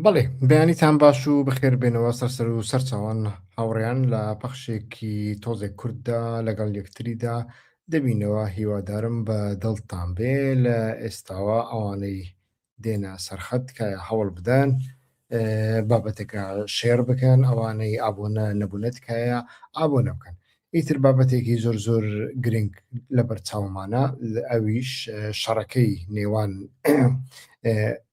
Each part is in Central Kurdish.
بەڵێ بەیانیتان باش و بەخێر بێنەوە سەرسەر و سەرچاوان هاوڕیان لە پەخشێکی تۆزێک کورددا لەگەڵ یەکتریدا دەبینەوە هیوادارم بە دڵتان بێ لە ئێستاوە ئەوانەی دێنە سەرخەت تکایە هەوڵ بدەن بابەتەکە شێر بکەن ئەوانەی ئابۆنە نەبوونە تکایە ئابۆنە بکەن ئیتر بابەتێکی زۆر زۆر گرنگ لە بەرچاومانە ئەویش شەڕەکەی نێوان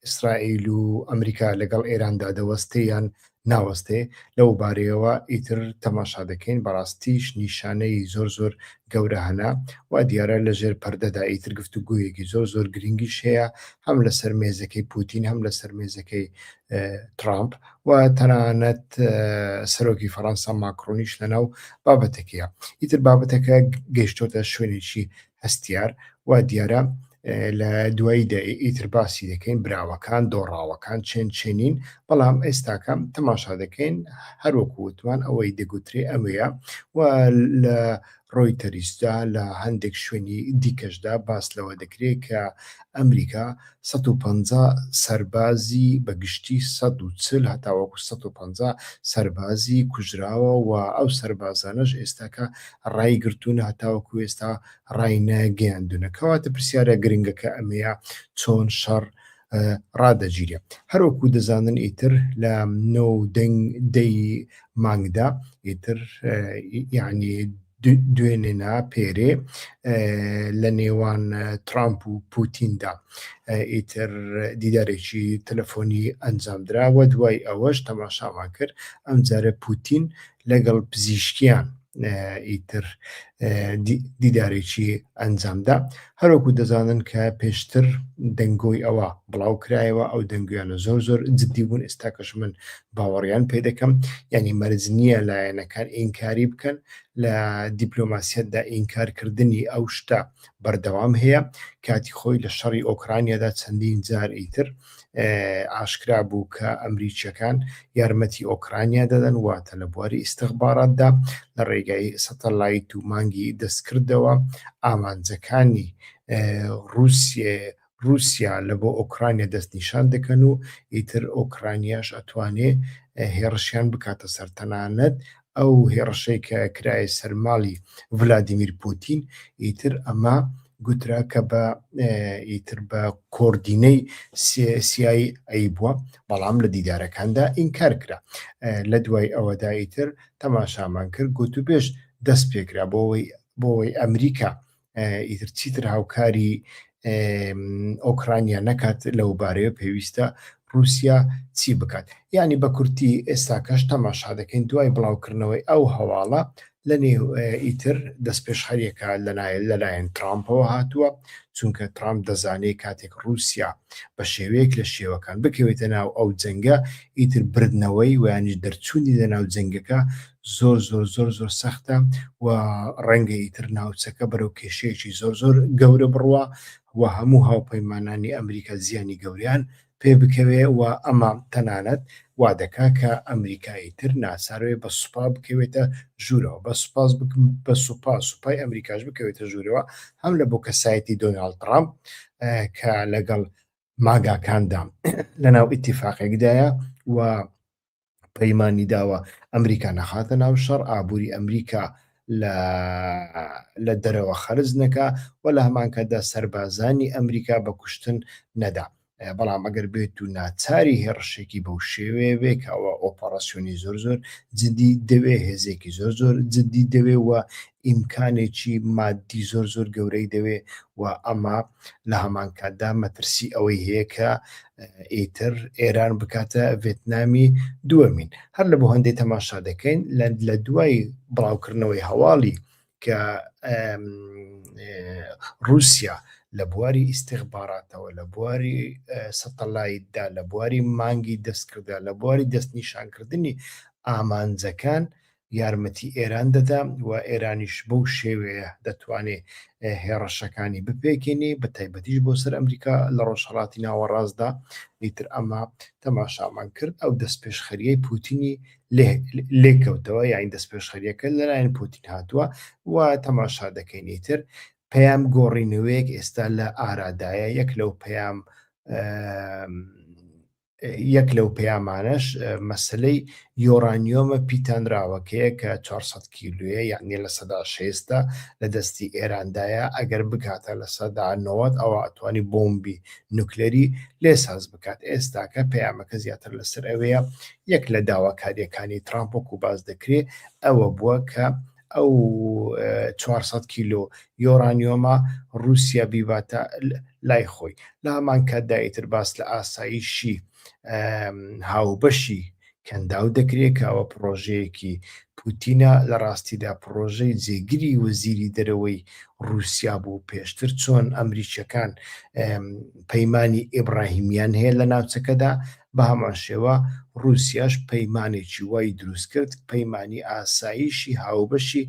ئیسرائیل و ئەمریکا لەگەڵ ئێراندا دەوەستیان ناوەستێ لەو بارەیەوە ئیتر تەماشا دەکەین بەڕاستیش نیشانەی زۆر زۆر گەورە هەنە وا دیارە لە ژێر پەردەدا ئیتر گفت و گویەکی زۆر زۆر گرنگیش هەیە هەم لەسەر مێزەکەی پوتین هەم لەسەر مێزەکەی ترامپ و تەنانەت سەرۆکی فەڕەنسا ماکرۆنیش لەناو بابەتەکەیە ئیتر بابەتەکە گەشتۆتە شوێنێکی هەستیار، وا دیارە لە دواییدا ئیتر باسی دەکەین، براوەکان، دۆڕاوەکان چێن چێنین، بەڵام ئێستاکە تەماشا دەکەین، هەر وەکو وتمان ئەوەی دەگوترێ ئەوەیە و لە ڕۆیتەریسدا لە هەندێک شوێنی دیکەشدا باس لەوە دەکرێ کە ئەمریکا سەد و پەنجا سەربازی بە گشتی سەد و چل هەتاوەکو سەد و پەنجا سەربازی کوژراوە و ئەو سەربازانەش ئێستاکە رایگرتوونە هەتاوەکو ئێستا راینەگەیاندونە کەواتە پرسیارە گرنگەکە ئەمەیە چۆن شەڕ رادەگیرێ هەروەکو دەزانن ئیتر لە نۆ و دەنگ دەی مانگدا ئیتر یعنی دوێنێ نا پێرێ لە نێوان ترامپ و پوتیندا ئیتر دیدارێکی تەلەفۆنی ئەنجامدرا و دوای ئەوەش تەماشامان کرد ئەم جارە پوتین لەگەڵ پزیشکیان ئیتر دیدارێکی ئەنجامدا هەروەکو دەزانن کە پێشتر دەنگۆی ئەوە بڵاوکرایەوە ئەو دەنگۆیانە زۆر زۆر جدی بوون ئێستاکەش من باوەڕیان پێ دەکەم یانی مەرج نییە لایەنەکان ئینکاری بکەن لە دیپلۆماسیەتدا ئینکار کردنی ئەو شتە بەردەوام هەیە کاتی خۆی لە شەڕی ئۆکرانیادا چەندین جار ئیتر ئاشکرا بوو کە ئەمریکییەکان یارمەتی ئۆکرانیا دەدەن واتە لە بواری ئیستخباراتدا لە ڕێگای سەتەلایت و مانگی دەستکردەوە ئامانجەکانی رووسێ رووسیا لە بۆ ئۆکرانیا دەستنیشان دەکەن و ئیتر ئۆکرانیاش ئەتوانێ هێڕشیان بکاتە سەر تەنانەت ئەو هێڕشەی کە کرایە سەر ماڵی ڤلادیمیر پوتین ئیتر ئەمە گوترا کە بە ئیتر بە کۆردینەی سیایی ئەی بووە بەڵام لە دیدارەکاندا ئینکار کرا لە دوای ئەوەدا ئیتر تەماشامان کرد گوتوبێژ دەست پێکرا بۆەوەی بۆەوەی ئەمریکا ئیتر چیتر هاوکاری ئۆکرانیا نەکات لەو بارەیە پێویستە رووسیا چی بکات ینی بە کورتی ئێستا کەش تەماشا دەکەین دوای بڵاوکردنەوەی ئەو هەواڵە لە نێو ئیتر دەست پێش هەریەکە لەلایەن لەلایەن ترامپەوە هاتووە چونکە ترامپ دەزانێت کاتێک رووسیا بە شێوەیەک لە شێوەکان بکەوێتە ناو ئەو جەنگە ئیتر بردنەوەی ویانش دەرچوونی لە ناو جەنگەکە زۆر زۆر زۆر زۆر سەختە و ڕەنگە ئیتر ناوچەکە بەرەو کێشەیەکی زۆر زۆر گەورە بڕوە و هەموو هاوپەیمانانی ئەمریکا زیانی گەوریان پێ بکەوێ و ئەمە تەنانەت وا دەکا کە ئەمریکایی تر ناساروێ بە سوپا بکەوێتە ژوورەوە بە سوپاس بکم بە سوپا سوپای ئەمریکاش بکەوێتە ژوورەوە هەم لە بۆ کەسایەتی دۆناڵ ترامپ کە لەگەڵ ماگاکاندا لەناو ئیتیفاقێکدایە و پەیمانی داوە ئەمریکا نەخاتە ناو شەڕ، ئابووری ئەمریکا لە دەرەوە خەرج نەکا و لە هەمانکاتدا سەربازانی ئەمریکا بە کوشتن نەدا. بەڵام ئەگەر بێت و ناچاری هێڕشێکی بەو شێوەیە بێ کە ئەوە ئۆپەڕاسیۆنی زۆر زۆر جدی دەوێ هێزێکی زۆر زۆر جدی دەوێ و ئیمکانێکی ماددی زۆر زۆر گەورەی دەوێ و ئەمە لە هەمان کاتدا مەترسی ئەوەی هەیە کە ئیتر ئێران بکاتە ڤێتنامی دووەمین هەر لە بۆ هەندێک تەماشا دەکەین لە دوای بڵاوکردنەوەی هەواڵی کە رووسیا لە بواری ئیسیخباراتەوە لە بواری سەتەلایتدا لە بواری مانگی دەستکردە لە بواری دەستنیشانکردنی ئامانجەکان یارمەتی ئێران دەدا و ئێرانیش بەو شێوەیە دەتوانێ هێڕەشەکانی بپێکێنێ بە تایبەتیش بۆ سەر ئەمریکا لە ڕۆژهەڵاتی ناوەڕاستدا ئیتر ئەمە تەماشامان کرد ئەو دەستپێشخەریەی پوتینی لێکەوتەوە یاین دەستپێشخەریەکە لەلایەن پوتین هاتووە و تەماشا دەکەینی تر پەیام گۆڕینەوەیەک ئێستا لە ئارادایە یەک لەو پەیام یەک لەو پەیامانەش مەسلەی یۆرانیۆمە پیتانراوەکەیە کە 400 کیلوە یعنی لە سەدا شێستە لە دەستی ئێراندایە ئەگەر بکاتە لە سەدا نەوەت ئەوە ئەتوانی بۆمبی نوکلەری لێ ساز بکات ئێستاکە پەیامەکە زیاتر لەسەر ئەوەیە یەک لە داواکاریەکانی ترامپۆک و باز دەکرێت ئەوە بووە کە ئەو چوار سەد کیلۆ یۆرانیۆمە رووسیا بیباتە لای خۆی لە هەمان کاتدا ئیتر باس لە ئاسایشی هاوبەشی کەنداو دەکرێت کە ئەوە پرۆژەیەکی پوتینە لە ڕاستیدا پرۆژەی جێگری وەزیری دەرەوەی رووسیا بوو پێشتر چۆن ئەمریکیەکان پەیمانانی ئیبراهیمیان هەیە لە ناوچەکەدا بە هەمان شێوە ڕووسیاش پەیمانێکی وای دروست کرد، پەیمانی ئاسایشی هاوبەشی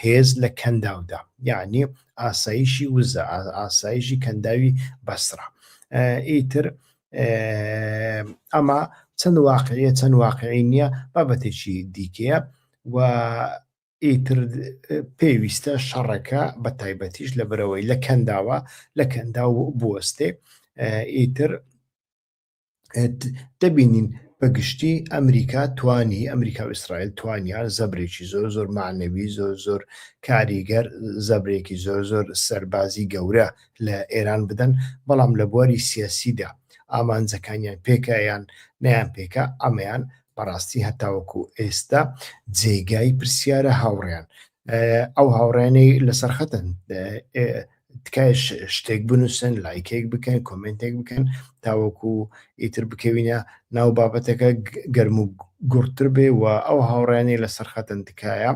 هێز لە کەنداودا، یەعنی ئاسایشی وزە، ئاسایشی کەنداوی بەسرە. ئیتر ئەمە چەند واقعیە چەند واقعی نییە بابەتێکی دیکەیە و ئیتر پێویستە شەڕەکە بە تایبەتیش لە برەوەی لە کەنداوە لە کەندا و بوەستێ ئیتر دەبینین بە گشتی ئەمریکا توانی ئەمریکا و ئیسرائیل توانیان زەبرێکی زۆر زۆر معنەوی زۆر زۆر کاریگەر زەبرێکی زۆر زۆر سەربازی گەورە لە ئێران بدەن بەڵام لە بواری سیاسیدا ئامانجەکانیان پێکیان نیان پێکە ئەمەیان بەڕاستی هەتاوەکو ئێستا جێگای پرسیارە هاوڕیان ئەو هاوڕێنەی لەسەر خەتن تکای شتێک بنووسن لایکێک بکەن کۆمنتێک بکەن تاوەکو ئیتر بکەوینە ناو بابەتەکە گەرم و گوڕتر بێ و ئەو هاوڕێنی لەسەر خەتن تکایە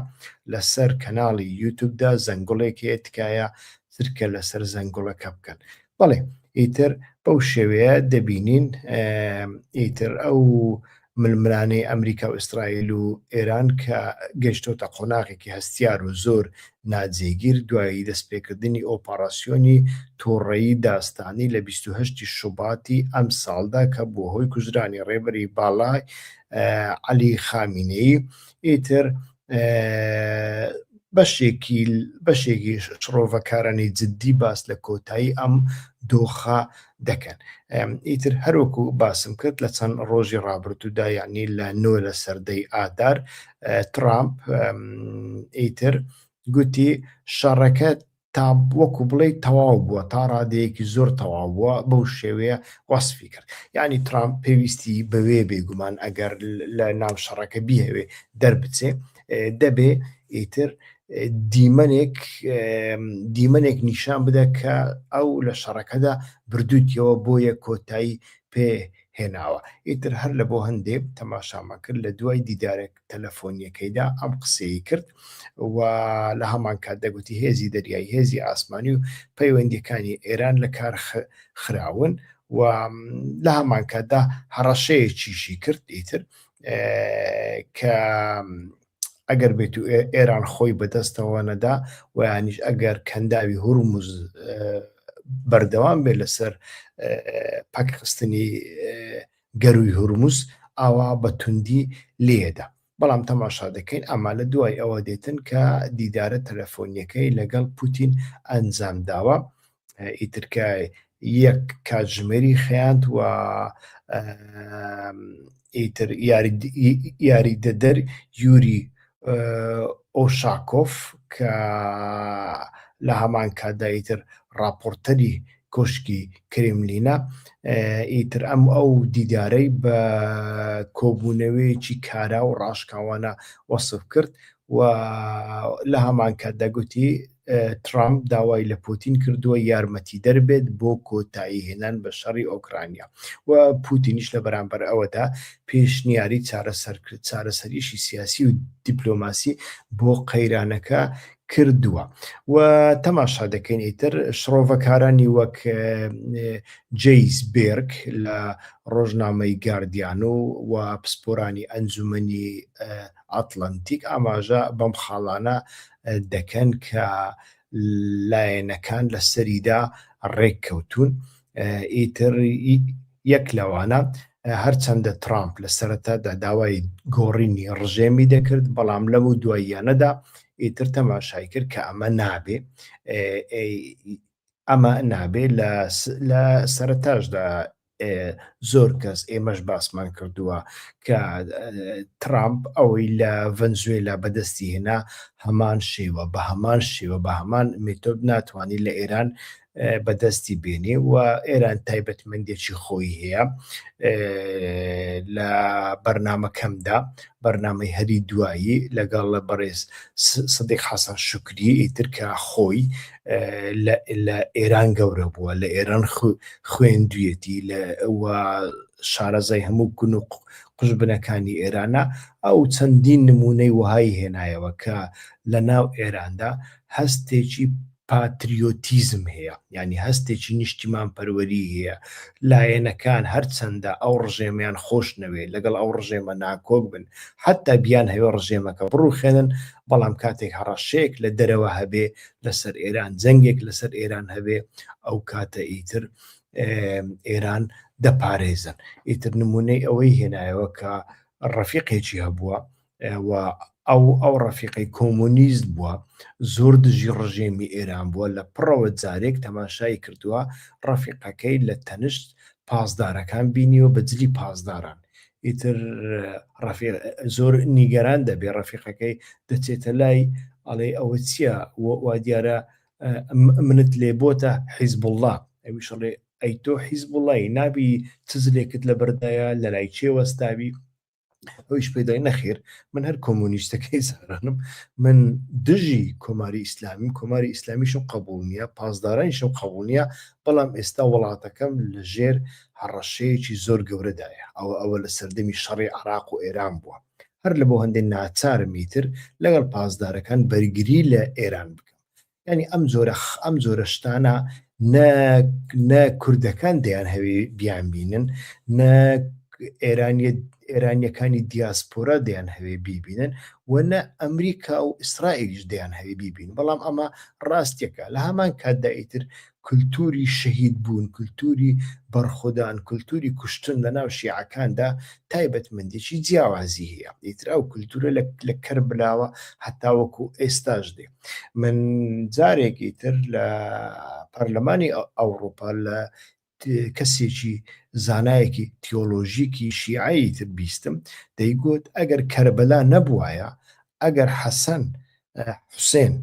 لەسەر کەناڵی یوتوبدا زەنگڵێک هەیە تکایە ترکە لەسەر زەنگڵەکە بکەن بەڵێ ئیتر بەو شێوەیە دەبینین ئیتر ئەو ململانێی ئەمریکا و ئیسرائیل و ئێران کە گەیشتۆتە قۆناغێکی هەستیار و زۆر ناجێگیر دوای دەستپێکردنی ئۆپەڕاسیۆنی توڕەیی داستانی لە بیست و هەشت ی شوباتی ئەمساڵدا کە بووە هۆی کوژرانی ڕێبەری باڵای عەلی خامینەیی ئیتر بەشێکی بەشێکی شڕۆڤەکارانی جددی باس لە کۆتایی ئەم دۆخە دەکەن ئیتر هەروەکو باسم کرد لە چەند ڕۆژی ڕابردوودا یعنی لە نۆ لە سەردەی ئادار ترامپ ئیتر گوتی شەڕەکە تا وەکو بڵێی تەواو بووە تا ڕادەیەکی زۆر تەواو بووە بەو شێوەیە وەسفی کرد یعنی ترامپ پێویستی بەوێ بێگومان ئەگەر لە ناو شەڕەکە بیهەوێ دەربچێ دەبێ ئیتر دیمەنێک دیمەنێک نیشان بدە کە ئەو لە شەڕەکەدا بردووتەوە بۆیە کۆتایی پێ هێناوە ئیتر هەر لە بۆ هەندێک تەماشامە کرد لە دوای دیدارێک تەلەفۆنییەکەیدا ئەم قسەی کرد و لە هەمان کات دەگوتی هێزی دەریایی هێزی ئاسمانی و پەیوەندیەکانی ئێران لە کار خراون و لە هەمان کاتدا هەڕەشەیەکیشی کرد ئیتر کە ئەگەر بێت و ئێران خۆی بەدەستەوە نەدا ویانیش ئەگەر کەنداوی هورمز بەردەوام بێت لەسەر پاکخستنی گەرووی هورمز ئاوا بە توندی لێیەدا. بەڵام تەماشا دەکەین ئەمە لە دوای ئەوە دێتن کە دیدارە تەلەفۆنییەکەی لەگەڵ پوتین ئەنجام داوە، ئیتر کە یەک کاتژمێری خەیاند و ئیتر یاریدەدەر یوری ئۆشاکۆف کە لە هەمان کاتدا ئیتر ڕاپۆرتەری کۆشکی کرێملینە ئیتر ئەم ئەو دیدارەی بە کۆبوونەوەیەکی کارا و ڕاشکاوانە وەسف کرد و لە هەمان کاتدا گوتی ترامپ داوای لە پوتین کردووە یارمەتیدەر بێت بۆ کۆتایی هێنان بە شەڕی ئۆکرانیا و پوتینیش لە بەرامبەر ئەوەدا پێشنیاری چارەسەریی سیاسی و دیپلۆماسی بۆ قەیرانەکە کردووە و تەماشا دەکەین ئیتر شڕۆڤەکارانی وەک جیس بێرک لە ڕۆژنامەی گاردیان و و پسپۆرانی ئەنجومنی ئاتلانتیک ئاماژە بەم خاڵانە دەکەن کە لایەنەکان لەسەریدا ڕێککەوتوون ئیتر یەک لەوانە هەرچەندە ترامپ لە سەرەتادا داوای گۆڕینی ڕژێمی دەکرد بەڵام لەم و دواییانەدا ئیتر تەماشای کرد کە ئەمە نابێ ئەمە نابێ لە سەرتاشدا زۆر کەس ئێمەش باسمان کردووە کە ترامپ ئەوەی لە ڤەنزوێلا بەدەستی هێنا هەمان شێوە بە هەمان شێوە بە هەمان مێتۆد ناتوانانی لە ئێران بەدەستی بێنێ و ئێران تایبەتمەندێکی خۆی هەیە لە بەرنمەکەمدا بەرنمەی هەری دوایی لەگەڵ لە بەڕێز سدیق حەسەن شکری ئیترکە خۆی لە ئێران گەورە بووە لە ئێران خوێندویەتی لە شارەزای هەموو گون و قژ بنەکانی ئێرانە ئەو چەندین نمونەی وهای هێنایەوە کە لە ناو ئێراندا هەستێکی پاتریۆتیزم هەیە ینی هەستێکی نیشتیمان پەروەری هەیە لایەنەکان هەرچەندە ئەو ڕژێمیان خۆش نەوێ لەگەڵ ئەو ڕژێمە ناکۆک بن حتا بیان هەیە ڕژێمەکە بڕوخێنن بەڵام کاتێک هەڕەشەیەک لە دەرەوە هەبێ لەسەر ئێران جەنگێک لەسەر ئێران هەبێ ئەو کاتە ئیتر ئێران دەپارێزن ئیتر نمونەی ئەوەی هێنایەوە کە ڕەفیقێکی هەبووە و ئەو ئەو ڕەفیقی کۆمۆنیست بووە زۆر دژی ڕژێمی ئێران بووە لە پڕەوە جارێک تەماشای کردووە ڕەفیقەکەی لە تەنشت پاسدارەکان بینیوە بە جلی پاسداران ئیتر ڕەفیق زۆر نیگەران دەبێ ڕەفیقەکەی دەچێتە لای ئەڵێ ئەوە چییە وا دیارە منت لێ بۆتە حیزبوڵڵا ئەویش ڵێ ئەی تۆ حیزبوڵڵای نابی چزلێکت لە بەردایە لە لای چێ وەستاوی ئەویش پێدای نەخێر من هەر کۆمۆنیستەکەی زارانم من دژی کۆماری ئیسلامیم کۆماری ئیسلامیشم قبول نییە پاسدارانیشم قبول نییە بەڵام ئێستا وڵاتەکەم لە ژێر هەڕەشەیەکی زۆر گەورەدایە، ئەوە ئەوە لە سەردەمی شەڕی عێراق و ئێران بووە، هەر لەبۆ هەندێ ناچارم ئیتر لەگەڵ پاسدارەکان بەرگری لە ئێران بکەم. یانی ئەم جۆرە ئەم جۆرە شتانە نە نە کوردەکان دەیانهەوێ بیانبینن، نە ئێرانیە ئێرانیەکانی دیاسپۆرا دەیانهەوێ بیبینن و نە ئەمریکا و ئیسرائیلیش دەیانهەوێ بیبین، بەڵام ئەمە ڕاستیەکە لە هەمان کاتدا ئیتر کولتووری شەهید بوون، کولتووری بەڕخۆدان، کولتووری کوشتن لە ناو شیعەکاندا تایبەتمەندیی جیاوازی هەیە. ئیتر ئەو کولتوورە لە لە کەربلاوە هەتاوەکو ئێستاش دێ. من جارێکی تر لە پارلمانی ئەوڕوپا لە کەسێکی زانایەکی تیۆلۆژیکی شیعەی تر بیستم دەیگوت ئەگەر کەربلا نەبوایە، ئەگەر حەسەن حوسێن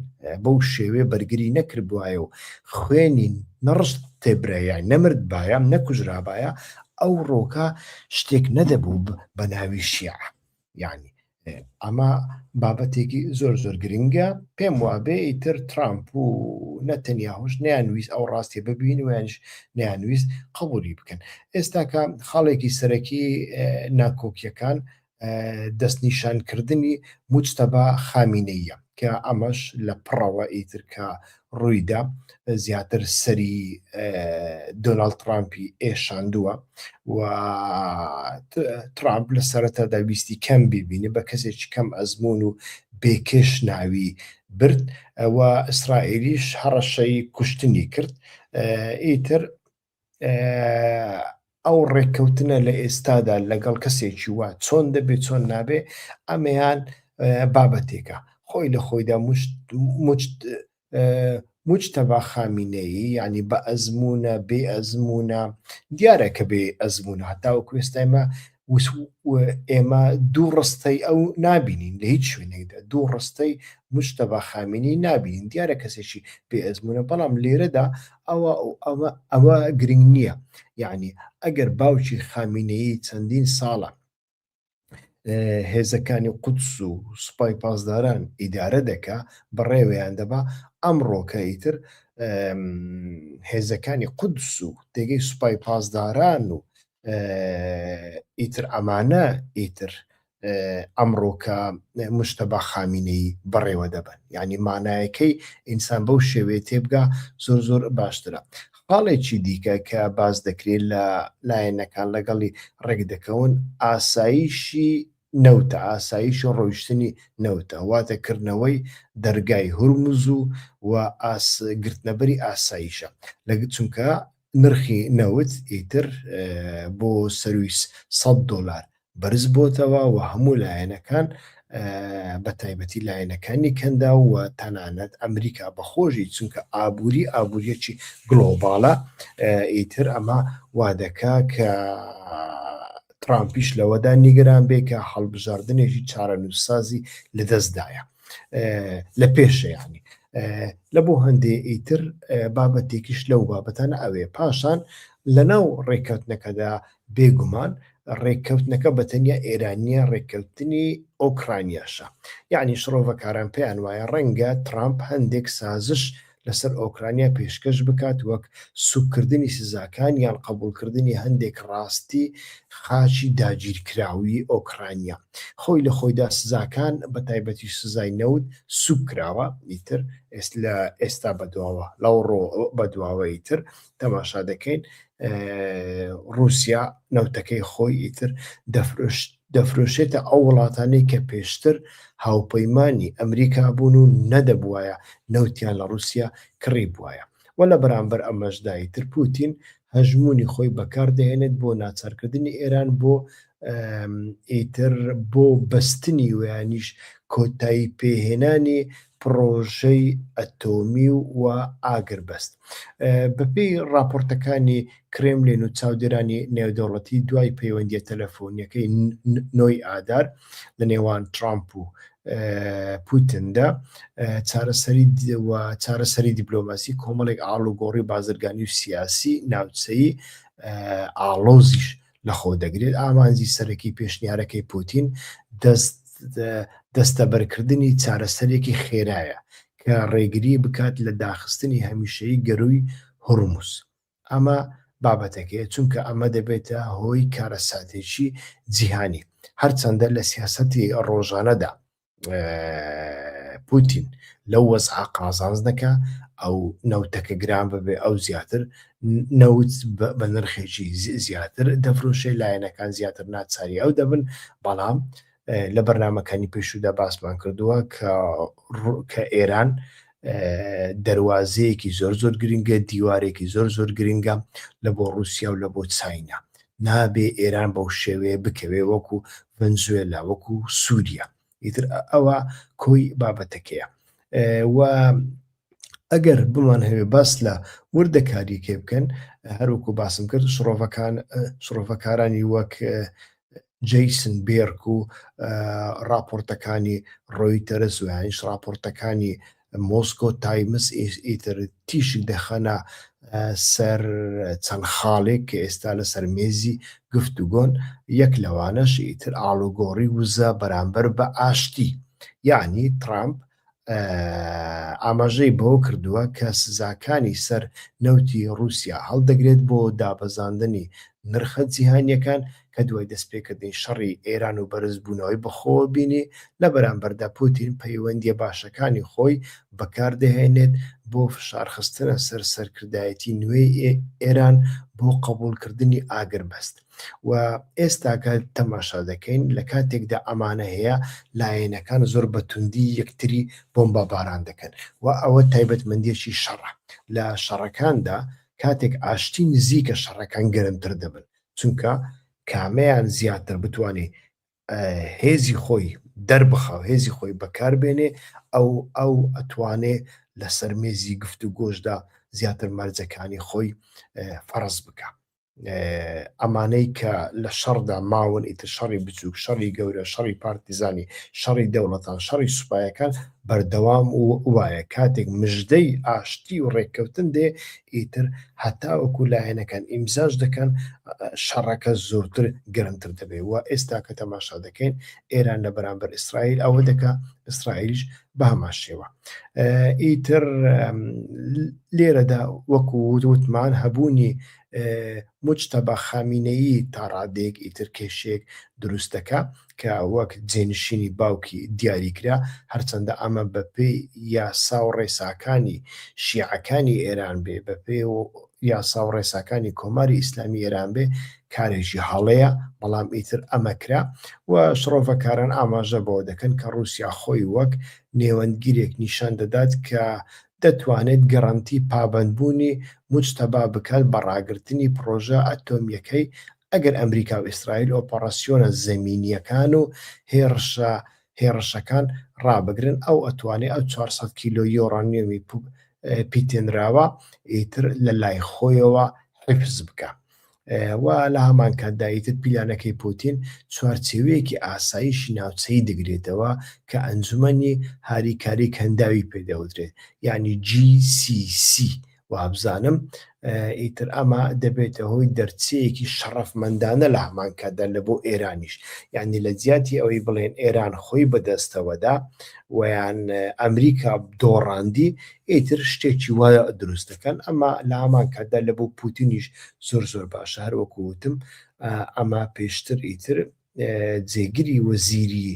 بەو شێوێ بەرگری نەکرد بواە و خوێنی نەڕشت تێبرایە نەمرد بایەم نەکوژرابایە ئەو ڕۆکە شتێک نەدەبوو بە ناوی شیع یعنی ئەمە بابەتێکی زۆر زۆر گرنگە پێم وابێ ئیتر ترامپ و نەتەنیا هۆش نیانویست ئەو ڕاستێ ببین وێنش نیانویست قبولی بکەن ئێستاکە خاڵێکی سەرەکی ناکۆکیەکان دەستنیشانکردنی موجتەبا خامینەییە کە ئەمەش لە پڕەوە ئیتر کە ڕوویدا زیاتر سەری دۆناڵد ترامپی ئێشاندووە و ترامپ لە سەرەتادا ویستی کەم ببینێ بە کەسێکی کەم ئەزمون و بێکێش ناوی برد و ئیسرائیلیش هەڕەشەی کوشتنی کرد ئیتر ئەو ڕێککەوتنە لە ئێستادا لەگەڵ کەسێکی وە چۆن دەبێت چۆن نابێ ئەمەیان بابەتێکە خۆی لە خۆیدا مجتەبا خامینەیی ینی بە ئەزمونە بێ ئەزمونە دیارە کە بێ ئەزمونە هەتاوە کوێستایمە ئێمە دوو ڕستەی ئەو نابینین لە هیچ شوێنێکدا دوو ڕستەی مشتەبا خامینی نابینین دیارە کەسێکی بێ ئەزمونە بەڵام لێرەدا ئەوە ئەوە ئەوە گرنگ نییە یعنی ئەگەر باوکی خامینەیی چەندین ساڵە هێزەکانی قودس و سوپای پاسداران ئیدارە دەکا بەڕێوەیان دەبا ئەمڕۆکە ئیتر هێزەکانی قودس و دەگەی سوپای پاسداران و ئیتر ئەمانە ئیتر ئەمڕۆکە مشتەبا خامینەی بەڕێوە دەبن ینی مانایەکەی ئینسان بەو شێوێ تێبگا زۆر زۆر باشترە خاڵێکی دیکە کە باز دەکرێت لە لایەنەکان لەگەڵی ڕێک دەکەون ئاساییشی نەوتە ئاساییش و ڕۆیشتنی نەوتە واتە کردنەوەی دەرگای هورمز و و گرتنەبەری ئاساییشە لە چونکە نرخی نەوت ئیتر بۆ سەرووی سەد دۆلار بەرزبۆتەوە و هەموو لایەنەکان بە تایبەتی لایەنەکانی کەنداو و تەنانەت ئەمریکا بەخۆشی چونکە ئابووری ئابووریەکی گلۆباڵە ئیتر ئەمە وادەکە کە ترامپیش لەوەدا نیگەران بێ کە هەڵبژاردنێکی چارەنووسسازی لەدەستدایە. لە پێشەیانی لە بۆ هەندێ ئیتر بابەتێکیش لەو بابەتانە ئەوێ پاشان لە ناو ڕێککەوتنەکەدا بێگومان ڕێککەوتنەکە بە تەنیا ئێرانیە ڕێککەوتنی ئۆکرانیاشە یعنی شڕۆڤەکاران پێیان وایە ڕەنگە ترامپ هەندێک سازش لەسەر ئۆکرانیا پێشکەش بکات وەک سوککردنی سزاکان یان قبوڵکردنی هەندێک ڕاستی خاچی داگیرکراوی ئۆکرانیا خۆی لە خۆیدا سزاکان بە تایبەتیش سزای نەوت سوک کراوە ئیتر لە ئێستا بەدواوە لەو ڕۆ بەدواوە ئیتر تەماشا دەکەین ڕوسیا نەوتەکەی خۆی ئیتر دەفرشت دەفرۆشێتە ئەو وڵاتانەی کە پێشتر هاوپەیمانی ئەمریکا بوون و نەدەبوایە نەوتیان لە ڕووسیا کڕیبوایە و لە بەرامبەر ئەمەشدا ئیتر پووتین هەژموونی خۆی بەکار دەهێنێت بۆ ناچارکردنی ئێران بۆ ئیتر بۆ بەستنی و یانیش کۆتاییپێهێنانی پڕۆژەی ئەتۆمی و ئاگربەست. بەپێی ڕاپۆرتەکانی کرێملین و چاودێرانی نێودەوڵەتی دوای پەیوەندیە تەلەفۆنیەکەی نۆی ئادار لە نێوان ترامپ و پوتندا چارەسەری چارەسەری دیبلۆماسی کۆمەڵێک ئاڵوگۆڕی بازرگانی و سیاسی ناوچەی ئاڵۆزیش لەخۆدەگرێت، ئامانجی سەرەکی پێشنیارەکەی پوتین دەستەبەرکردنی چارەسەرێکی خێرایە کە ڕێگری بکات لە داخستنی هەمیشەیی گەرووی هورموز. ئەمە بابەتەکەیە، چونکە ئەمە دەبێتە هۆی کارەساتێکی جیهانی، هەرچەندە لە سیاسەتی ڕۆژانەدا پوتین لەو وەزعا قازانز دەکە ئەو نەوتەکە گران ببێ ئەو زیاتر نەوت بە نرخێکی زیاتر دەفرۆشێ لایەنەکان زیاتر ناچاری ئەو دەبن بەڵام لە بەرنمەکانی پێشودا باسمان کردووە کە کە ئێران دەروازەیەکی زۆر زۆر گرنگە دیوارێکی زۆر زۆر گرنگە لە بۆ رووسیا و لە بۆ چاینا نابێ ئێران بەو شێوەیە بکەوێ وەکو ڤەنزوێلا وەکو سووریا ئیتر ئەوە کۆی بابەتەکەیە و ئەگەر بمان هەوێ باس لە وردەکاریەکێ بکەن هەروکو باسم کرد شڕۆڤەکان شڕۆڤەکارانی وەک جەیسن بێرک و ڕاپۆرتەکانی ڕۆیتەرز و یانیش ڕاپۆرتەکانی مۆسکۆ تایمز ئیتر تیشک دەخەنە سەر چەند خاڵێک کە ئێستا لە سەرمێزی گفتوگۆن یەک لەوانەش ئیتر ئاڵوگۆڕی وزە بەرامبەر بە ئاشتی یعنی ترامپ ئاماژەی بەوە کردووە کە سزاکانی سەر نەوتی ڕووسیا هەڵدەگرێت بۆ دابەزاندنی نرخە جیهانییەکان کە دوای دەستپێکردنی شەڕی ئێران و بەرزبوونەوەی بەخۆوە بینی، لە بەرامبەردا پوتین پەیوەندییە باشەکانی خۆی بەکاردەهێنێت بۆ فشارخستنە سەر سەرکردایەتی نوێی ئێران بۆ قبوڵکردنی ئاگربەست. و ئێستا کە تەماشا دەکەین لە کاتێکدا ئەمانە هەیە لایەنەکان زۆر بە توندی یەکتری بۆمبا باران دەکەن و ئەوە تایبەت مەندێکی شەڕە لە شەڕەکاندا کاتێک ئاشتی نزیکە شەڕەکان گەرمتر دەبن چونکە کامەیان زیاتر بتوانێت هێزی خۆی دەربخاو هێزی خۆی بەکاربێنێ ئەو ئەو ئەتوانێ لەسەر مێزی گفت و گۆشدا زیاتر مەرجەکانی خۆی فەرز بکە ئەمانەی کە لە شەڕدا ماون ئیتر شەڕی بچووک شەڕی گەورە شەڕی پارتیزانی شەڕی دەوڵەتان شەڕی سوپایەکان بەردەوام و وایە کاتێک مژدەی ئاشتی و ڕێککەوتن دێ ئیتر هەتاوەکو لایەنەکان ئیمزاش دەکەن شەڕەکە زۆرتر گەرمتر دەبێت و ئێستا کە تەماشا دەکەین ئێران لە بەرامبەر ئیسرائیل ئەوە دەکە ئیسرائیلش بەهەمان شێوە ئیتر لێرەدا وەکو وتمان هەبوونی مجتەبا خامینەیی تاڕادێک ئیتر کێشێک دروست دەکا کە وەک جێنشینی باوکی دیاریکرا هەرچەندە ئەمە بەپێی یاسا و ڕێساکانی شیعەکانی ئێران بێ بەپێ و یاسا و ڕێساکانی کۆماری ئیسلامی ئێران بێ کارێکی هەڵەیە، بەڵام ئیتر ئەمە کرا و شڕۆڤەکاران ئاماژە بەوە دەکەن کە ڕووسیا خۆی وەک نێوەندگیرێک نیشان دەدات کە دەتوانێت گەرەنتی پابەندبوونی موجتەبا بکات بە ڕاگرتنی پڕۆژە ئەتۆمییەکەی ئەگەر ئەمریکا و ئیسرائیل ئۆپەڕاسیۆنە زەمینییەکان و هێڕشە هێڕشەکان ڕابگرن، ئەو ئەتوانێت ئەو چوار سەد کیلۆ یۆرانیۆمی پیتێنراوە ئیتر لە لای خۆیەوە حیفز بکات. و لە هەمان کاتدا ئیتر پیلانەکەی پوتین چوارچێوەیەکی ئاسایشی ناوچەی دەگرێتەوە کە ئەنجومەنی هاریکاری کەنداوی پێدەوترێت یعنی GCC وابزانم ئیتر ئەمە دەبێتە هۆی دەرچەیەکی شەڕەفمەندانە لە هەمان کاتدا لە بۆ ئێرانیش یعنی لە جیاتی ئەوەی بڵێن ئێران خۆی بەدەستەوەدا ویان ئەمریکا دۆڕاندی ئیتر شتێکی وا دروست دەکەن ئەمە لە هەمان کاتدا لە بۆ پوتینیش زۆر زۆر باشە هەر وەکو وتم ئەمە پێشتر ئیتر جێگری وەزیری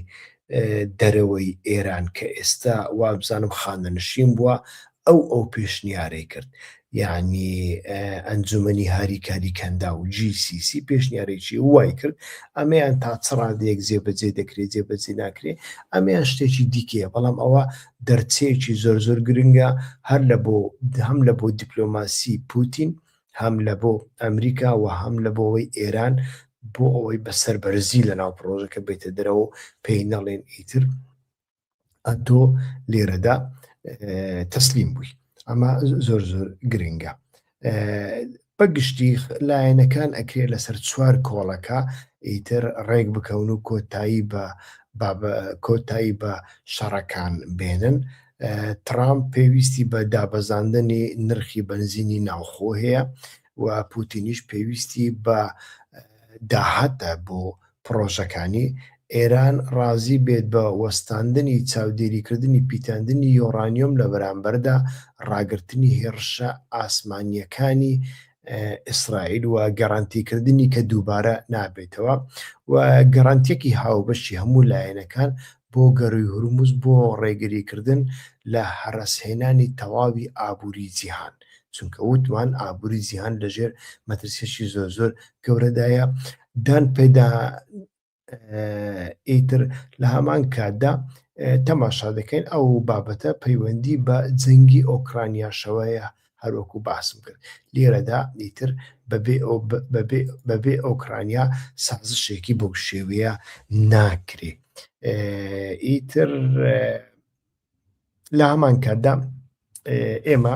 دەرەوەی ئێران کە ئێستا وابزانم خانەنشین بووە ئەو ئەو پێشنیارەی کرد یعنی ئەنجومنی هاریکاری کەندا و GCC پێشنیارێکی وای کرد ئەمەیان تا چڕادێک جێبەجێ دەکرێت جێبەجێ ناکرێت ئەمەیان شتێکی دیکەیە بەڵام ئەوە دەرچەیەکی زۆر زۆر گرنگە هەر لە بۆ هەم لە بۆ دیپلۆماسی پوتین هەم لە بۆ ئەمریکا و هەم لە بۆەوەی ئێران بۆ ئەوەی بە سەر بەرزی لە ناو پرۆژەکە بێتە دەرەوە پێی نەڵێن ئیتر ئەتۆ لێرەدا تەسلیم بووی ئەمە زۆر زۆر گرنگە بەگشتی لایەنەکان ئەکرێت لەسەر چوار کۆڵەکە ئیتر ڕێک بکەون و کۆتایی بە کۆتایی بە شەڕەکان بێنن ترامپ پێویستی بە دابەزاندنی نرخی بنزینی ناوخۆ هەیە و پوتینیش پێویستی بە داهاتە بۆ پڕۆژەکانی، ئێران ڕازی بێت بە وەستاندنی چاودێریکردنی پیتاندنی یۆرانیۆم لە بەرامبەردا ڕاگرتنی هێڕشە ئاسمانییەکانی ئیسرائیل و گەرەنتیکردنی کە دووبارە نابێتەوە و گەرەنتییەکی هاوبەشی هەموو لایەنەکان بۆ گەرووی هورمز بۆ ڕێگریکردن لە هەرەسهێنانی تەواوی ئابووری جیهان چونکە وتمان ئابووری جیهان لەژێر مەترسییەکی زۆرزۆر گەورەدایە دان پێدا ئیتر لە هەمان کاتدا تەماشا دەکەین ئەو بابەتە پەیوەندی بە جەنگی ئۆکرانیاشەوەیە هەروەکو باسم کرد لێرەدا ئیتر بەبێ ئۆکرانیا سازشێکی بەو شێوەیە ناکرێ ئیتر لە هەمان کاتدا ئێمە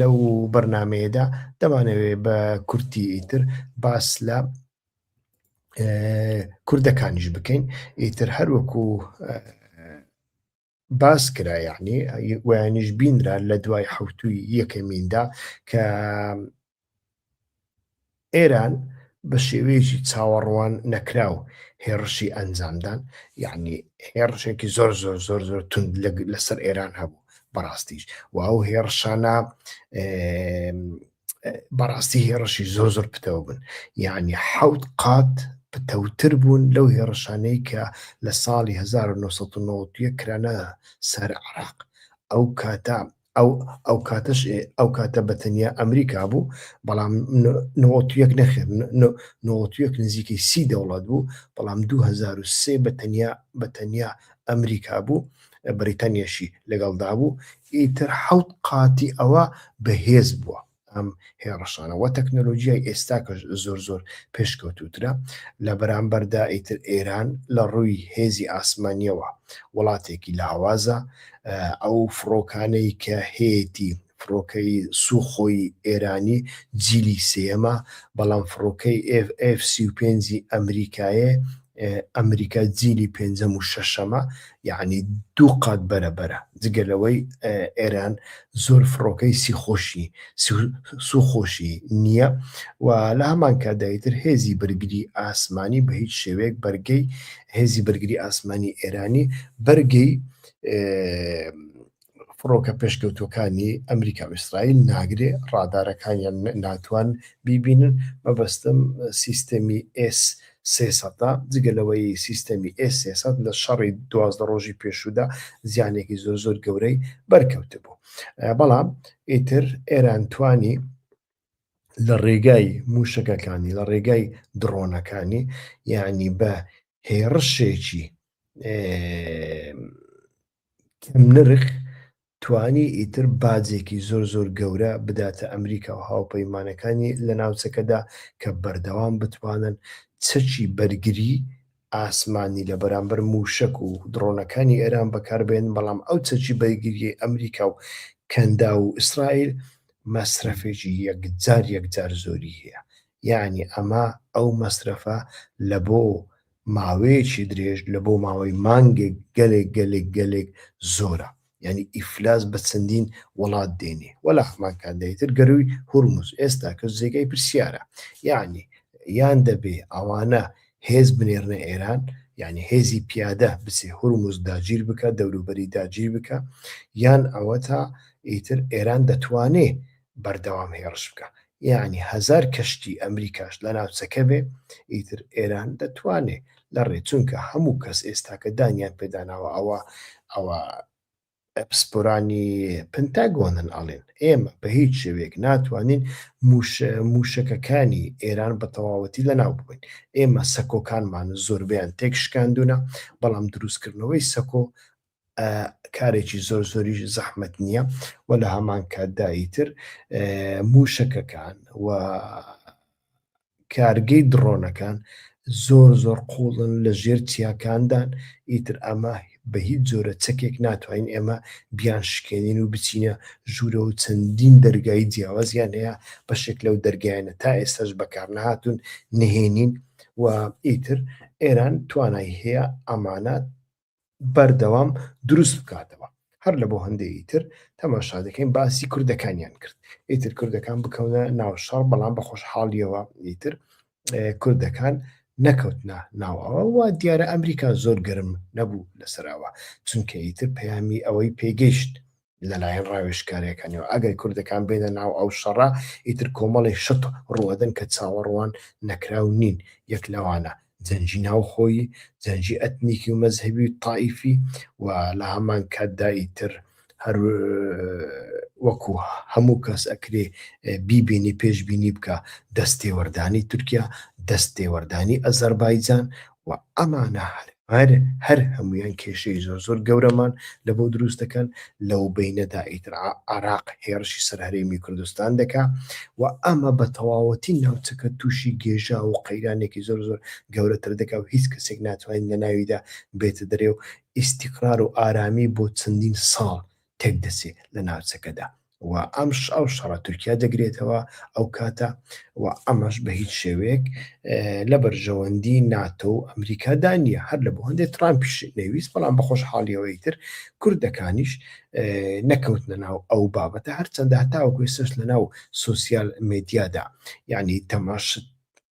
لەو بەرنمەیەدا دەمانەوێت بە کورتی ئیتر باس لە کوردەکانیش بکەین ئیتر هەروەکو باس کرا یعنی ویانیش بینرا لە دوای حوتوی یەکەمیندا کە ئێران بە شێوەیەکی چاوەڕوان نەکراو هێڕشی ئەنجامدان یعنی هێڕشێکی زۆر زۆر زۆر زۆر تون لەسەر ئێران هەبوو بەڕاستیش و ئەو هێڕشانە بەڕاستی هێڕشی زۆر زۆر پتەوە بن یعنی حوت قات پتەوتر بوون لەو هێڕشانەی کە لە ساڵی 1990 کرانە سەر عراق ئەو کاتە ئەو ئەوکاتەش ئەوکاتە بە تەنیا ئەمریکا بوو، بەڵام نۆتویەک نەخێر نۆتویەک نزیکەی سی دەوڵات بوو، بەڵام 2023 بە تەنیا بە تەنیا ئەمریکا بوو، بەریتانیاشی لەگەڵدا بوو، ئیتر حەوت قاتی ئەوە بەهێز بووە. ئەم هێڕشانە وە تەکنەلۆجیای ئێستا کە زۆر زۆر پێشکەوتوترە لە بەرامبەردا ئیتر ئێران لە ڕووی هێزی ئاسمانیەوە وڵاتێکی لاوازە ئەو فڕۆکانەی کە هەیەی فڕۆکەی سوخۆی ئێرانی جیلی سێەمە بەڵام فڕۆکەی F35 ئەمریکایە ئەمریکا جیلی پێنجەم و شەشەمە یعنی دوو قات بەرە بەرە جگە لەوەی ئێران زۆر فڕۆکەی سیخۆشی سوخۆشی نییە و لە هەمان کادایتر هێزی بەرگری ئاسمانی بە هیچ شێوەیەک بەرگەی هێزی بەرگری ئاسمانی ئێرانی بەرگەی فڕۆکە پێشکەوتووەکانی ئەمریکا و ئیسرائیل ناگرێ، ڕادارەکانیان ناتوان بیبینن، مەبەستم سیستەمی ئێس سێ سەدە، جگە لەوەی سیستەمی ئێس سێ سەد لە شەڕی دوازدە ڕۆژی پێشوودا زیانێکی زۆر زۆر گەورەی بەرکەوتبوو، بەڵام ئیتر ئێران توانی لە ڕێگای موشەکەکانی لە ڕێگای دڕۆنەکانی یعنی بە هێڕشێکی نرخ توانی ئیتر باجێکی زۆر زۆر گەورە بداتە ئەمریکا و هاوپەیمانەکانی لە ناوچەکەدا کە بەردەوام بتوانن چەکی بەرگری ئاسمانی لە بەرامبەر مووشەک و دڕۆنەکانی ئێران بەکاربهێنن، بەڵام ئەو چەکی بەرگرییەی ئەمریکا و کەنداو و ئیسرائیل مەسرەفێکی یەکجار یەکجار زۆری هەیە، یەعنی ئەمە ئەو مەسرەفە لە بۆ ماوەیەکی درێژ لە بۆ ماوەی مانگێک گەلێک گەلێک گەلێک زۆرە. یعنی ئیفلاس بە چەندین وڵات دێنێ وەلا هەمان کات دەیتر گەرووی هورمز ئێستا کە جێگای پرسیارە یعنی یان دەبێ ئەوانە هێز بنێرنە ئێران یعنی هێزی پیادە بچێ هورمز داگیر بکە دەوروبەری داگیر بکە یان ئەوە تا ئیتر ئێران دەتوانێ بەردەوام هێڕش بکا یانی هەزار کەشتی ئەمریکاش لە ناوچەکە بێ ئیتر ئێران دەتوانێ لە ڕێ چونکە هەموو کەس ئێستاکە دانیان پێداناوە ئەوە ئەوە پسپۆرانی پنتاگۆنن ئەڵێن ئێمە بە هیچ شێوێک ناتوانین موشەکەکانی ئێران بە تەواوەتی لەناو ببین ئێمە سەکۆکانمان زۆربیان تێک شکاندونە بەڵام دروستکردنەوەی سەکۆ کارێکی زۆر زۆریش زەحمت نییە و لە هەمان کاتدایی تر موشەکەکان و کارگەی دڕۆنەکان زۆر زۆر قوڵن لە ژێر چیاکاندان ئیتر ئەمە بە هیچ جۆرە چەکێک ناتوانین ئێمە بیان شکێنین و بچینە ژوورە و چەندین دەرگایی جیاوازیان هەیە بەشێک لەو دەرگایانە تا ئێستاش بەکار نهاتون نهێنین و ئیتر ئێران توانای هەیە ئەمانە بەردەوام دروست بکاتەوە هەر لە بۆ هەندێکی تر تەماشا دەکەین باسی کوردەکانیان کرد ئیتر کوردەکان بکەونە ناو شەڕ بەڵام بە خۆشحاڵیەوە ئیتر کوردەکان نەکەوتنا ناوەوە و دیارە ئەمریکا زۆر گەرم نەبوو لەسەرەوە چونکە ئیتر پەیامی ئەوەی پێگەیشت لەلایەن ڕاوێژکارەکانەوە ئەگەر کوردەکان بێنە ناو ئەو شەڕە ئیتر کۆمەڵی شت ڕوەدەن کە چاوەڕوان نەکراو نین یەک لەوانە جەنجی ناوخۆیی جەنجی ئەتنیکی و مەزهبی و تائیفی و لە هەمان کاتدا ئیتر هەر وەکو هەموو کەس ئەکرێ بیبینی پێشببینی بکە دەستێوەردانی تورکیا دەستێوەردانی ئەزەربایجان وە ئەمانە هەر هەر هەر هەموویان کێشەی زۆر زۆر گەورەمان لە بۆ دروست دەکەن لەو بەینەدا ئیتر عراق هێڕشی سەر هەرێمی کوردستان دەکا و ئەمە بە تەواوەتی ناوچەکە تووشی گێژا و قەیرانێکی زۆر زۆر گەورەتر دەکا و هیچ کەسێک ناتوانین لە ناویدا بێتە دەرێ و ئیستیقرار و ئارامی بۆ چەندین ساڵ تێک دەچێ لە ناوچەکەدا و ئەمش ئەو شەڕە تورکیا دەگرێتەوە ئەو کاتە و ئەمەش بە هیچ شێوەیەک لە بەرژەوەندی ناتۆ و ئەمریکادا نیە هەر لە بۆ هەندێ ترامپیش نەویست بەڵام بەخۆش حاڵیەوەی تر کوردەکانیش نەکەوت لە ناو ئەو بابەتە هەرچەندە هەتاوەکوێ سەش لە ناو سوسیال مدیادا یعنی تەماشت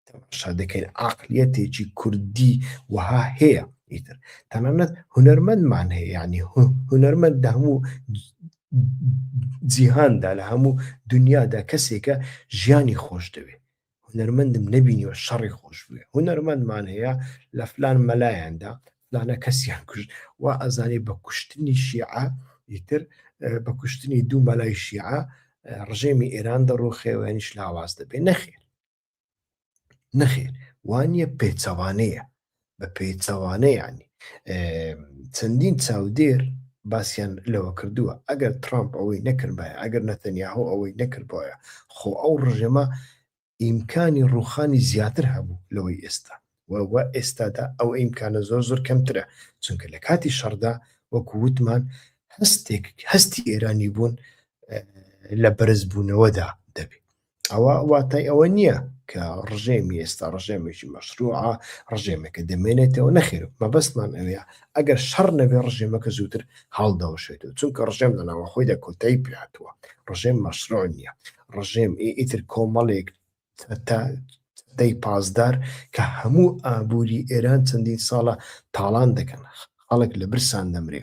تەماشا دەکەین عقلیەتێکی کوردی وەها هەیە ئیتر تەنانەت هوەرمەندمان هەیە ینی هوەرمەند لە هەموو جیهاندا لە هەموو دنیادا کەسێکە ژیانی خۆش دەوێت هوەرمەندم نبینیوە شەڕی خۆش بێ هوەرمەندمان هەیە لە فلان مەلایەندا فلانە کەسیان کوشت و ئەزانێ بە کوشتنی شیعە ئیتر بە کوشتنی دوو مەلای شیعە ڕژێمی ئێران دەڕوخێوێنیش لاواز دەبێ نەخێر نەخێر وانە پێچەوانەیە بە پێچەوانە یعنی چەندین چاودێر باسییان لەوە کردووە ئەگەر ترامپ ئەوەی نەکردبایە ئەگەر نەتەنیاهۆ ئەوەی نەکردبایە خۆ ئەو ڕژێمە ئیمکانی ڕوخانی زیاتر هەبوو لەوەی ئێستا وە ئێستادا ئەو ئیمکانە زۆر زۆر کەمترە چونکە لە کاتی شەردا وەکو وتمان هەستێک هەستی ئێرانی بوون لە بەرزبوونەوەدا دەبێت ئەوە واتای ئەوە نییە کە ڕژێمی ئێستا ڕژێمێکی مەشروعە ڕژێمێکە دەمێنێتەوە نەخێر مەبەستمان ئەوێ ئەگەر شەڕ نەبێ ڕژێمەکە زووتر هەڵدەوەشێت و چونکە ڕژێم لەناوە خۆی دە کۆتایی پێاتوە ڕژێم مەشروع نییە ڕژێم ئیتر کۆمەڵێک سەدەی پاسدار کە هەموو ئابووری ئێران چەندین ساڵە تاڵان دەکەن، خەڵک لە برسان دەمرێ،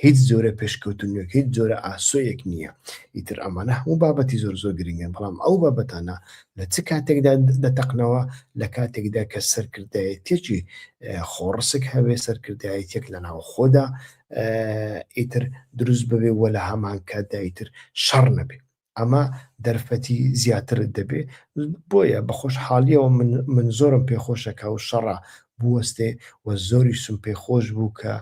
هیچ جۆرە پێشکەوتنێک، هیچ جۆرە ئاسۆیەک نییە. ئیتر ئەمانە هەموو بابەتی زۆر زۆر گرنگن، بەڵام ئەو بابەتانە لە چ کاتێکدا دەتەقنەوە؟ لە کاتێکدا کە سەرکردایەتیەکی خۆڕسک هەبێ، سەرکردایەتیەک لە ناوخۆدا ئیتر دروست ببێ و لە هەمانکاتدا ئیتر شەڕ نەبێ. ئەمە دەرفەتی زیاترت دەبێ بۆیە بە خۆشحاڵیەوە من زۆرم پێخۆشەکە و شەڕە بوەستێ و زۆری سم پێ خۆش بوو کە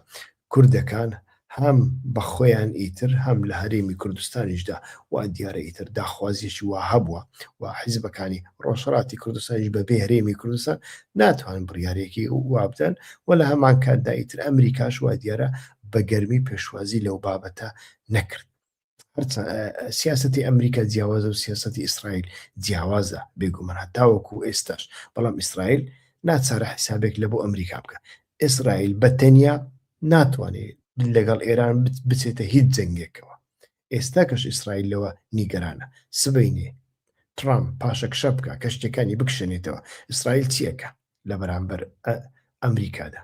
کوردەکان هەم بە خۆیان ئیتر هەم لە هەرێمی کوردستانیشدا و دیارە ئیتر داخوازیشی وا هەبووە و حیزبەکانی ڕۆژهڵاتی کوردستانیش بە بێ هەرێمی کوردستان ناتوان بڕیارێکی وابدەن و لە هەمان کاتدا ئیتر ئەمریکاش وا دیارە بە گەرمی پێشوازی لەو بابەتە نەکرد هەرچە سیاستی ئەمریکا جیاوازە و سیاستی ئیسرائیل جیاوازە بێگومەرا تاوەکو ئێستاش بەڵام ئیسرائیل ناچارە حیسابێک لە بۆ ئەمریکا بکە ئیسرائیل بە تەنیا ناتوانێت لەگەڵ ئێران بچێتە هیچ جەنگێکەوە ئێستا کەش ئیسرائیل لەوە نیگەرانە سبینێ ترامپ پاشەکشە بکە کە شتەکانی بکشێنێتەوە ئیسرائیل چیەکە لە بەرامبەر ئەمریکادا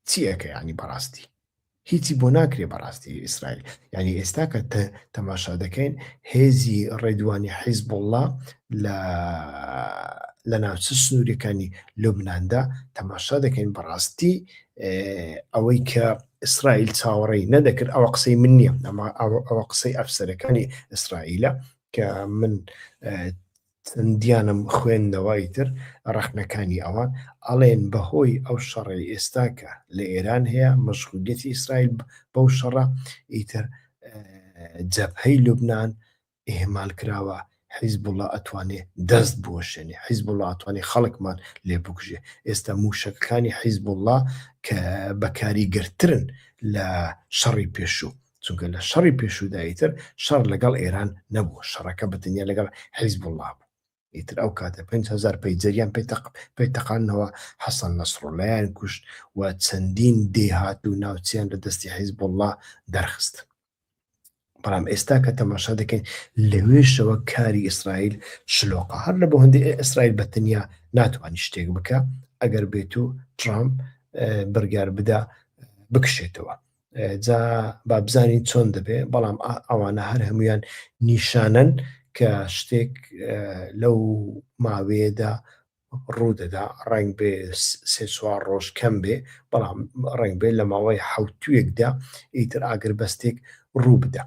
چی ئەکە یانی بەڕاستی هیچی بۆ ناکرێ بەڕاستی ئیسرائیل یعنی ئێستا کە تەماشا دەکەین هێزی ڕێدوانی حیزب الله لە لە ناوچە سنوورەکانی لوبنااندا تەماشا دەکەین بەڕاستی ئەوەی کە ئیسرائیل چاوەڕێی نەدەکرد ئەوە قسەی من نییە ئەمە ئەوە قسەی ئەفسەرەکانی ئیسرائیلە کە من چەندیانم خوێندەوە ئیتر ڕەخنەکانی ئەوان ئەڵێن بەهۆی ئەو شەڕەی ئێستا کە لە ئێران هەیە مەشغولیەتی ئیسرائیل بەو شەڕە ئیتر جەبهەی لوبنان ئیهمال کراوە حیزبوڵا ئەتوانێ دەست بوەشێنێ حیزبوڵا ئەتوانێ خەڵکمان لێ بکوژێ ئێستا موشەکەکانی حیزبوڵا کە بەکاریگەرترن لە شەڕی پێشوو چونکە لە شەڕی پێشودایی تر شەڕ لەگەڵ ئێران نەبوو شەڕەکە بەتەنیا لەگەڵ حیزب وڵا بوو ئیتر ئەو کاتە 5هزار پەیجەریان پێتەق پێتەقانەوە حەسەن نەسڕۆلایان کوشت و چەندین دێهات و ناوچیان لە دەستی حیزب وڵا دەرخست بەڵام ئێستا کە تەماشا دەکەین لەوێشەوە کاری ئیسرائیل شلۆقە هەر لە بۆ هەندی ئیسرائیل بەتەنیا ناتوانانی شتێک بکە ئەگەر بێت و ترامپ بڕگار بدا بکشێتەوە جا با بزانین چۆن دەبێ بەڵام ئەوانە هەر هەمویان نیشانەن کە شتێک لەو ماوەیەدا ڕوودەدا ڕنگ بێ سێ چوار ڕۆژ کەم بێ بەڵام ڕنگ بێ لە ماوەی حوتوێکدا ئیتر ئاگر بەستێک ڕوو بدە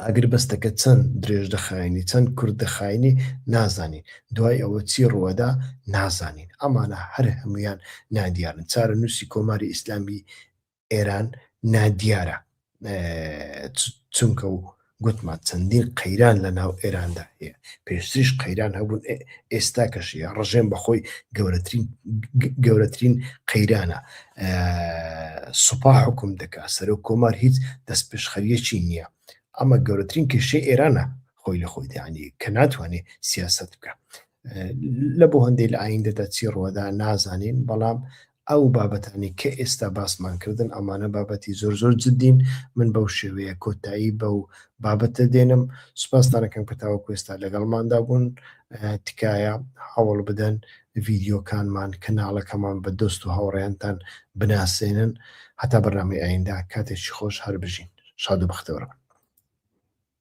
ئاگربەستەکە چەند درێژ دەخایەنی چەند کورت دەخایەنی نازانین، دوای ئەوە چی ڕووەدا نازانین، ئەمانە هەر هەموویان نادیارن، چارەنووسی کۆماری ئیسلامی ئێران نادیارە چونکە گوتمان چەندین قەیران لە ناو ئێراندا هەیە پێشتریش قەیران هەبوون ئێستا کەشیە ڕژێن بەخۆی گەورەترین گەورەترین قەیرانە سوپا حوکم دەکا سەرۆک کۆمار هیچ دەستپێشخەریەکی نیە ئەمە گەورەترین کێشەی ئێرانە خۆی لە خۆی دەیانی کە ناتوانێ سیاست بکە لە بۆ هەندێک لە ئایندەدا چی ڕوەدا نازانین بەڵام ئەو بابەتانی کە ئێستا باسمان کردن ئەمانە بابەتی زۆر زۆر جدین من بەو شێوەیە کۆتایی بەو بابەتە دێنم سوپاستانەکەم کە تاوە کوێستا لەگەڵماندا بوون تکایە هەوڵ بدەن ڤیدیۆکانمان کەناڵەکەمان بە دۆست و هاوڕێیانتان بناسێنن هەتا بەرنامەی ئایندە کاتێکی خۆش هەربژین شاد و بەختەوەربن.